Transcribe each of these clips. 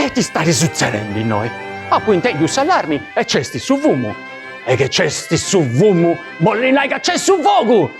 E ita stat sutzedendi innoi, apu intendiu s'allarmi e c'est su fumu. E chi c'est su fumu bolit nai ca c'est su fogu!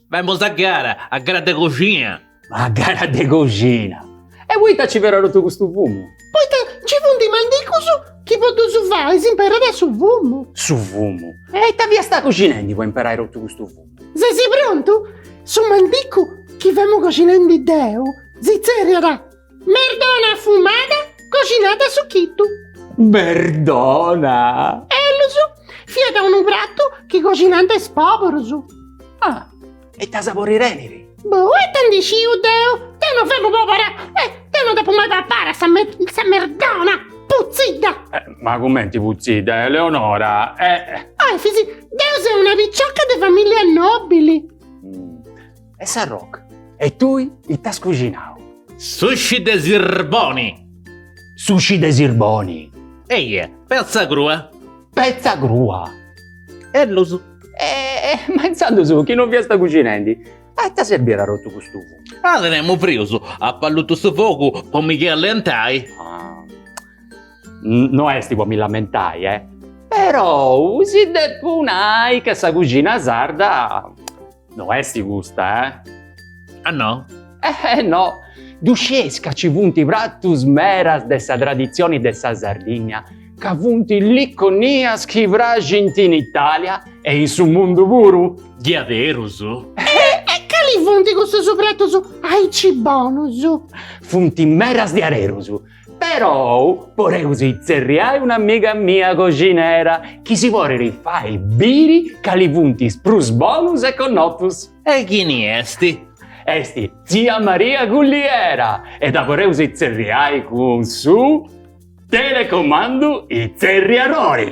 Femus a gara, a gara de coxina. A gara de coxina. E poita ci fiat totu custu fumu? Poita ci funt is mandigus chi po ddus fai s'imperat su fumu. Su fumu. E ita fiasta coxinendi po imperai totu custu fumu? Ses prontu? Su mandigu chi femu coxinendi deu si tzerriat. Merdona fumada coxinada a suchitu. Merdona. Ellus, fiat unu pratu chi coxinant is poburus. Ah, e ita sabori tenit? Boh, ita ndi sciu deu, deu no femu pobura e deu no dd'apu mai papada sa merdona putzidda. Ma cumenti putzidda, Eleonora? Eh, Efis, deu seu una picioca de familia nobili. E Sarroc, e tui ita as cuxinau? Sushi de sirboni! Sushi de sirboni! Eja, petza crua! Petza crua! Ellus. E ma intzandus chi non fiasta cuxinendi, a ita serbiat totu custu fumu? Ah, tenemu frius, apu allutu su fogu po mi callentai. No est po mi lamentai, eh! Perou si depu nai ca sa cuxina sarda No est custa, eh? Ah no? Eh no! Ddu scieis ca ci funt pratus meras de sa traditzioni de sa Sardìnnia, ca funt liconias chi praxint in Itàlia e in su mundu puru? Diaderus? E cali funt custus pratus aici bonus? Funt meras diaderus! Perou poreus itzerriai un'amiga mia coxinera chi si porit fai biri cali funt is prus bonus e connotus. E chini est? Est tzia Maria Culliera e dda poreus itzerriai cun su telecomandu itzerriadori!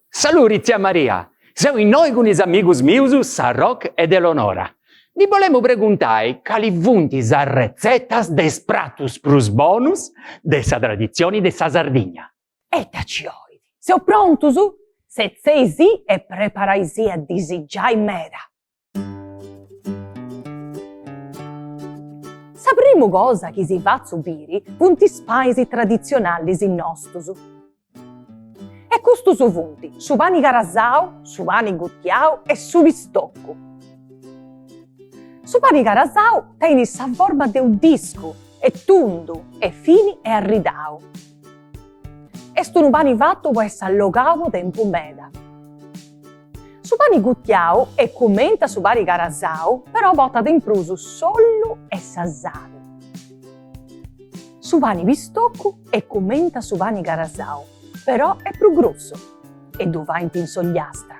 Saluri tzia Maria, seu innoi cun is amigus mius Sarroc ed Elonora. Ndi bolemu preguntai cali funt is arretzetas de is pratus prus bonus de sa traditzioni de sa Sardigna. Ita ci 'olit? Seus prontus? Setzei si e preparai si a disigiai meda. Sa primu cosa chi si fatzu biri funt is panis traditzionalis nostus. E custus funt su pani carasau, su pani gutiau e su pistocu. Su pani carasau tenit sa forma de u discu, est tundu, est fini e arridau. Est unu pani fatu po essi allogau po tempus meda. Su pani gutiau est cumenti a su pani carasau però portat in prus s'ollu e sa sali. Su pani pistocu est cumenti a su pani carasau però est prus grussu e ddu faint in s'Ogliastra.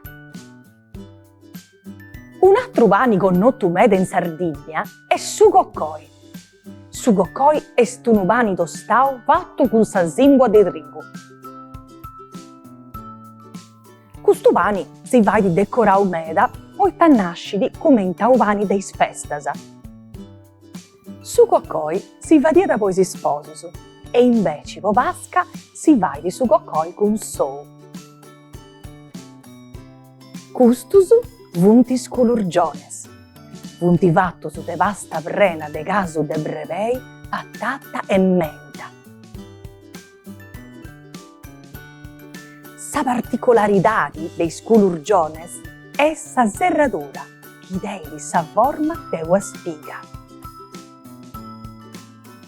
Un'atru pani connotu meda in Sardigna est su coccoi. Su coccoi est unu pani tostau fatu cun sa simbua de trigu. Custu pani si fait decorau meda poita a nascit cumenti a u pani de is festas. Su coccoi si fadiat po is sposus e inveci po Pasca si fait su coccoi cun s'ou. Custus funt is culurgiones. Funt fatus de pasta prena de casu de brebei, patata e menta. Sa particularidadi de is culurgiones est sa serradura chi tenit sa forma de una spiga.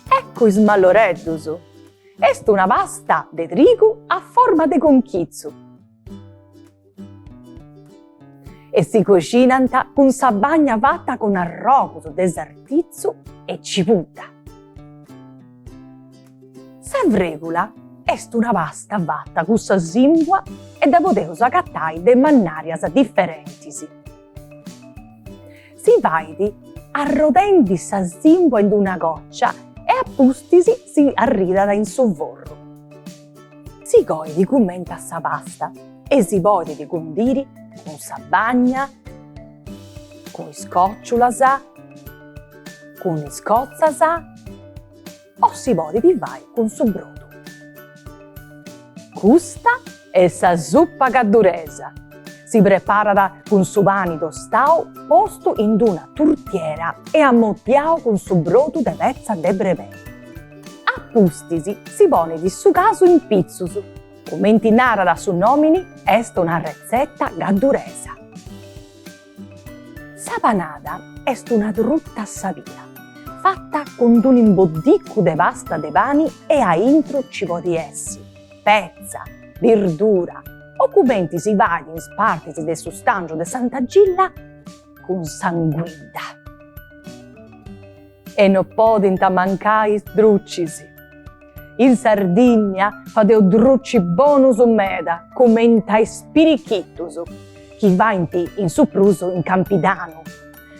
Eccu is malloreddus. Est una pasta de trigu a forma de conchitzu e si coxinant cun sa bagna fata cun arrogus de sartitzu e cibudda. Sa fregula est una pasta fata cun sa simbua e dda podeus agatai de mannàrias diferentis. Si fait arrodendi sa simbua in una còcia e a pustis si arridat in su forru. Si coit cumenti a sa pasta e si podit cundiri cun sa bagna, cun is còciulas, cun is cotzas. O si podit fai cun su brodu. Custa est sa zupa gadduresa. Si preparat cun su pani tostau postu in d'una turtiera e amoddiau cun su brodu de petza de brebei. A pustis si ponit su casu in pitzus. Cumenti narat su nomini est una retzeta gadduresa. Sa panada est una truta sabia, fata cun unu imboddicu de pasta de pani e a intru nci podit essi petza, birdura o cumenti si fait in is partis de su stàngiu de Santa Gilla cun s'anguidda. E no podint mancai is drucis. In Sardìnnia fadeus drucis bonus meda cumenta is pirichitus, chi faint in su prus in Campidanu,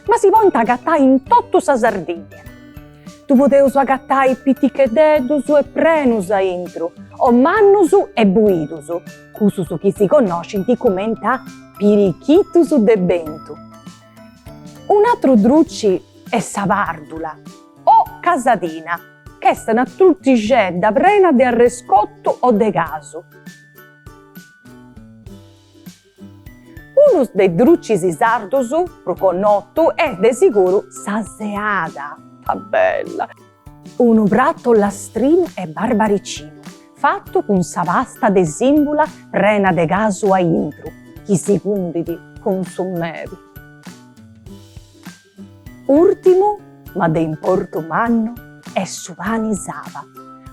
ma si podint agatai in totu sa Sardìnnia. Ddu podeus agatai piticheddeddus e prenus a intru, o mannus e buidus, cussus chi si connoscint cumenta pirichitus de bentu. Un'atru druci est sa pàrdula o casadina, ch'est una turtixedda prena de arrescotu o de casu. Unus de is drucis sardus prus connotu est de siguru sa seada. Ta bella! Unu pratu ollastrinu e barbaricinu, fatu cun sa pasta de sìmbula prena de casu a intru, chi si cundit cun su meli. Ùrtimu, ma de importu mannu, est su pani saba,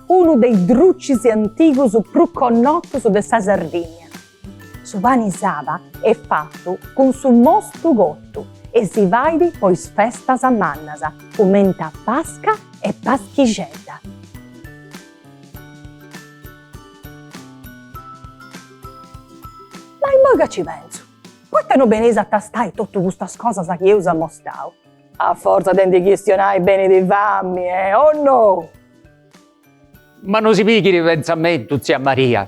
unu de is drucis antigus prus connotus de sa Sardìnnia. Su pani saba est fatu cun su mostu cotu e si fait po is festas mannas cumenti a Pasca e Paschixedda. Ma immoi ca ci pentzu, poita no beneis a tastai totu custas cosas chi eus amostau? A fortza de ndi chistionai benit fami, e o no? Ma no si pighit pentzamentu tzia Maria,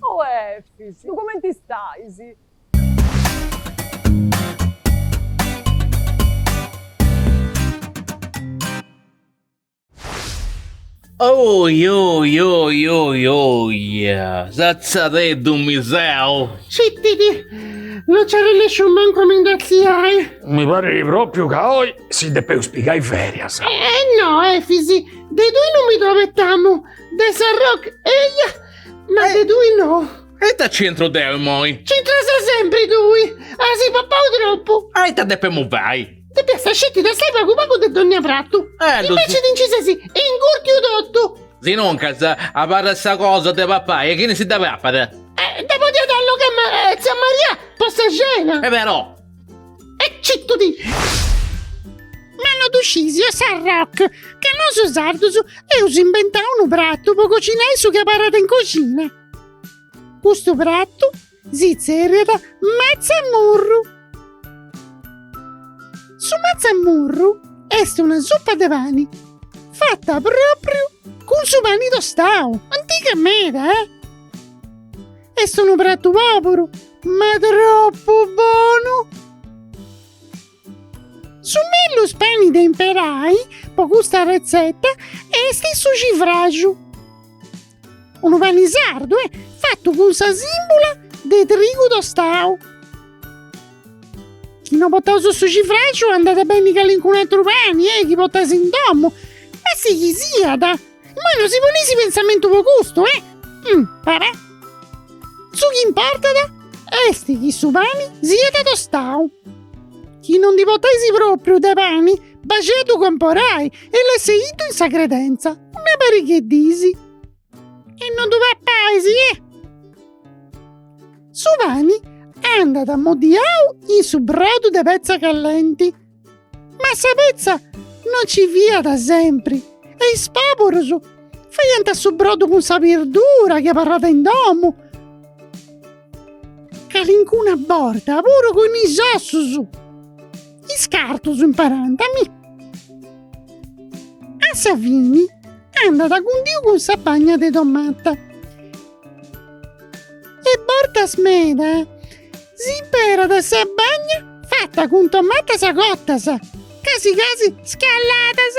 Oe Efis, lu cumenti stais? Oi oi oi oi oia, satzadeddu mi seu. Citi·ti! Non nci arrennèsciu mancu a mi nd'atziai! Mi parit propriu ca oi si depeus pigai ferias. E no, Efis, de tui non mi ddu abetamu, de sa Roc. Eia! Ma de tui no. E ita ci intru deu immoi? Ci intras sempri tui. As papau tropu. A ita depemu fai? Depiast sceti tastai pagu pagu de donnia pratu. Eh ddu. Inveci ti nci ses ingurtiu totu. Sinuncas abarrat sa cosa de papai e chini si dda papat? Eh dda podiat allogai tzia Maria po sa cena. E però. E cittu ti. Ma no ddu scisi e sa Roc. Ca nosu sardus eus imbentau unu pratu po cocinai su chi abarrat in coxina. Custu pratu si tzèrriat matzamurru. Su matzamurru est una suppa de pani fata propriu cun su pani tostau, antiga meda eh. Est unu pratu pòburu, ma tropu bonu! Su mellus pani de imperai po custa retzeta est su civraxu, unu pani sardu e fatu cun sa sìmbula de trigu tostau. Chi no potais su civraxu andat beni calincunu aturu pani, eh, chi potais in domu, ma si chi siat Ma no si poneisi pensamentu po custu, eh! Umm, pare. Su chi importat esti chi su pani siat tostau. Chi no ndi potaisi propriu de pani, baxei a ddu comporai e lasseiddu in sa credenza, una pariga 'e disi. E no ddu papaisi, eh! Su pani andat amoddiau in su brodu de petza callenti. Ma sa petza non ci fiat sempri e is pòburus faiant su brodu cun sa birdura chi abarràt in domu, calincuna borta puru cun is ossus, iscartus imparànt a mi. A sa fini andat cundiu cun sa bagna de tomata e bortas meda S'imperat sa bagna fata cun tomatas cotas, casi casi scalladas.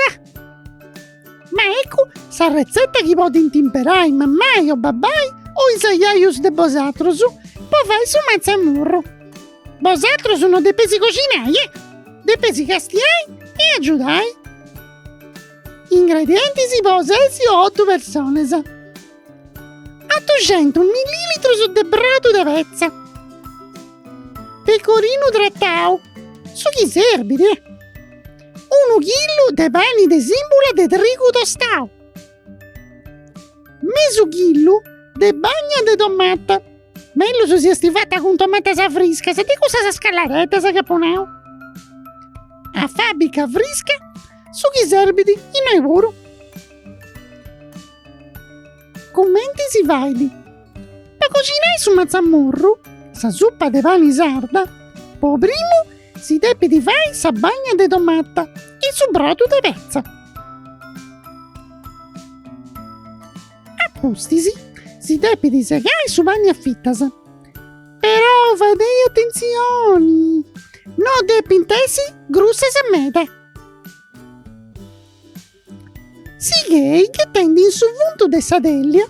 Ma eccu sa retzeta chi podint imperai mammai o babbai o is aiaius de bosatrus po fai su matzamurru. Bosatrus no depeisi coxinai eh! Depeisi castiai e agiudai. Ingredientis po ses o otu personas. A duxentus millilitrus de brodu de petza. Pecorinu tratau, su chi serbit. Unu chillu de pani de simbula de trigu tostau. Mesu chillu de bagna de tomata, mellus si est fata cun tomatas friscas, de cussas scalladeddas chi apu nau. Afàbica frisca su chi serbit innoi puru. Cumenti si fait? Po coxinai su matzamurru, sa suppa de pani sarda, po primu si depit fai sa bagna de tomata in su brodu de petza. Apustis si depit segai su pani a fitas, però fadei atentzioni, no depint essi grussas meda. Sighei ghetendi in su fundu de sa tèllia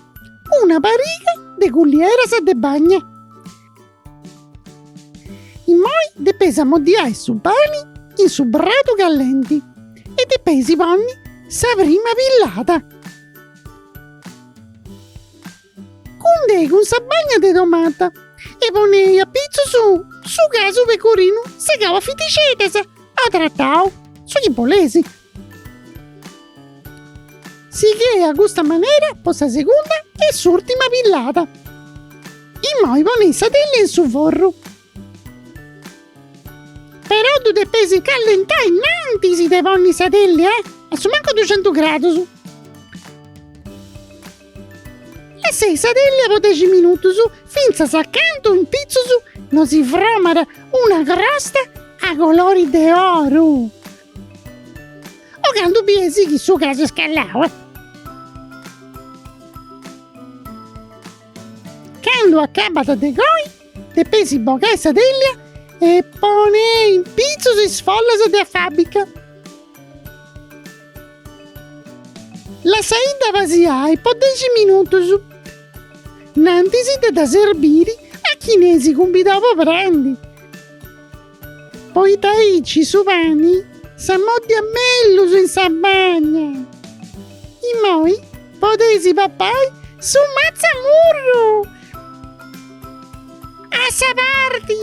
una pariga de cullieras de bagna. Immoi depeis ammoddiai su pani in su brodu callenti e depeis ponni sa prima pillada. Cundei cun sa bagna de tomata e ponei a pitzus su casu pecorinu segau a fitixeddas o tratau, su chi bolesi, Sighei a custa manera po sa segunda e s'urtima pillada. Immoi ponei sa teglia in su forru. Però ddu depeis callentai innantis de ponni sa teglia eh, a su mancu duxentus gradus. Lassei sa teglia po dexi minutus fintzas a cantu in pitzus no si fromat una crosta a colori de oru. O candu biesi chi su casu est scallau. Candu acabat de coi, depesi bogai sa tèllia e ponei in pitzus is follas de afàbbica. Lassaidda pasiai po dexi minutus. Nantis de dda serbiri a chini eis cumbidau po prandi. Poita aici su pani s'ammòddiat mellus in sa bagna. Immoi podeis papai su matzamurru a sa parti.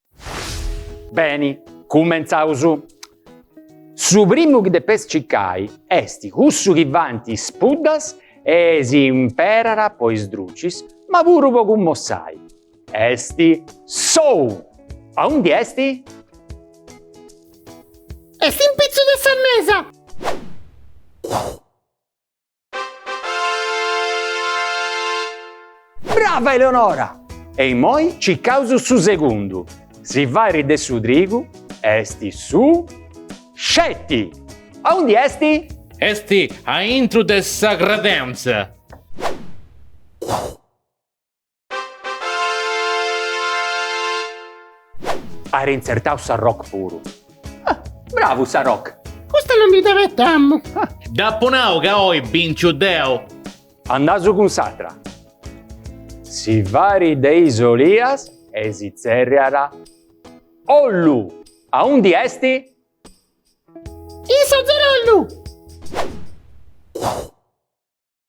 Beni, cumentzaus! Su primu chi depes cicai est cussu chi faint is puddas e si imperat po is drucis ma puru po cummossai. Est s'ou! Aundi est? Est in pitzus de sa mesa! Brava Eleonora! E immoi cicaus su segundu, si fait de su trigu est su sceti! Aundi est? Est aintru de sa credentza! At intzertau sa rock puru. Ah, bravu sa rock! Custa non mi dd'abetamu. Ah. Dd'apu nau ca oi binciu deu. Andaus cun s'atra. Si fait de is olias e si tzerriat ollu. Aundi esti? In s'atzerollu!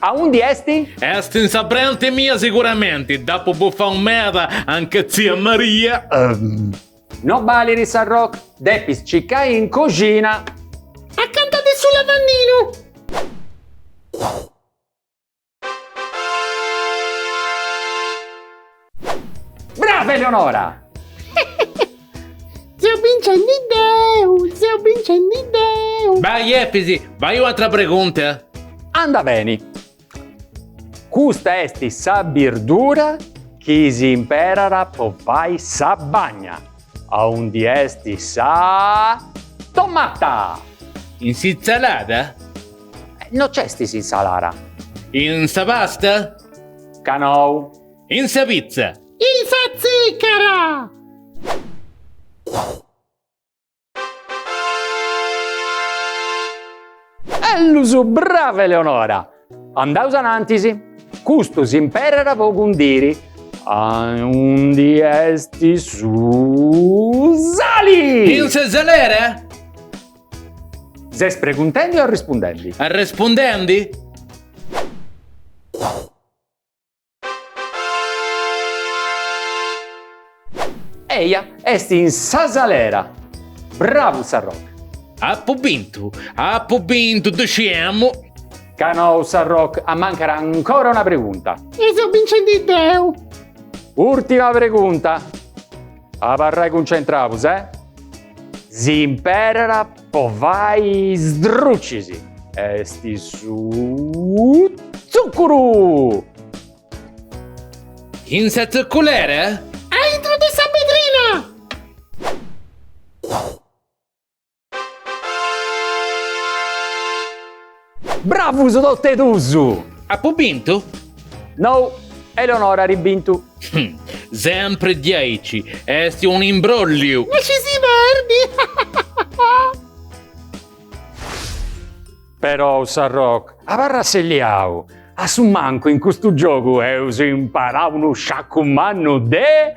Aundi est? Est in sa brenti mia siguramenti, dd'apu bufau meda anch'e tzia Maria. Ehm. No balit sa Rock, depis cicai in coxina. Acanta de su lavandinu. Brava Eleonora! Seu bincendi deu, seu bincendi deu. Vai Efisi, fai un'atra pregunta. Anda beni. Custa est sa birdura chi si imperara po fai sa bagna. Aundi est sa tomata? In s'insalada? No c'est s'insalara. In sa pasta? Ca nou. In sa pitza! In sa tzìcara! Ellus! Brava Eleonora! Andaus anantis! Custu s'imperara po cundiri aundi est su sali! In sa salera? Ses preguntendi o arrespundendi? Arrespundendi! Eja est in sa salera! Bravu sa Rock! Apu bintu! Apu bintu! Ddu sciemu! Ca no sa Rock amancat ancora una pregunta! E seu bincendi deu! Urtima pregunta! Abarrai cuncentraus eh! S'imperat Po fai is drucis est su tzuccuru! In sa tzucculera? Aintru de sa bedrina! Bravus tot'e dusu! Apu bintu? No, Eleonora at bintu. Sempre diaici, est un'imbrolliu! No scisi perdi! Perou sa Rock abarra asselliau, a su mancu in custu giogu eus imparau unu sciacu mannu de.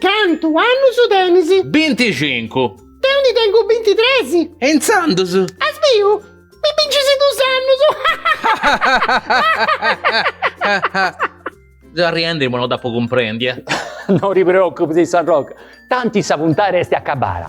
Cantu annus tenis? Binticincu. Deu ndi tengu bintitres. E intzandus? As biu? Mi bincis dus annus. Seu arriendi po no dd'apu cumprendi, eh. No ti preoccupis, San Rocca, tanti sa puntara est acabada.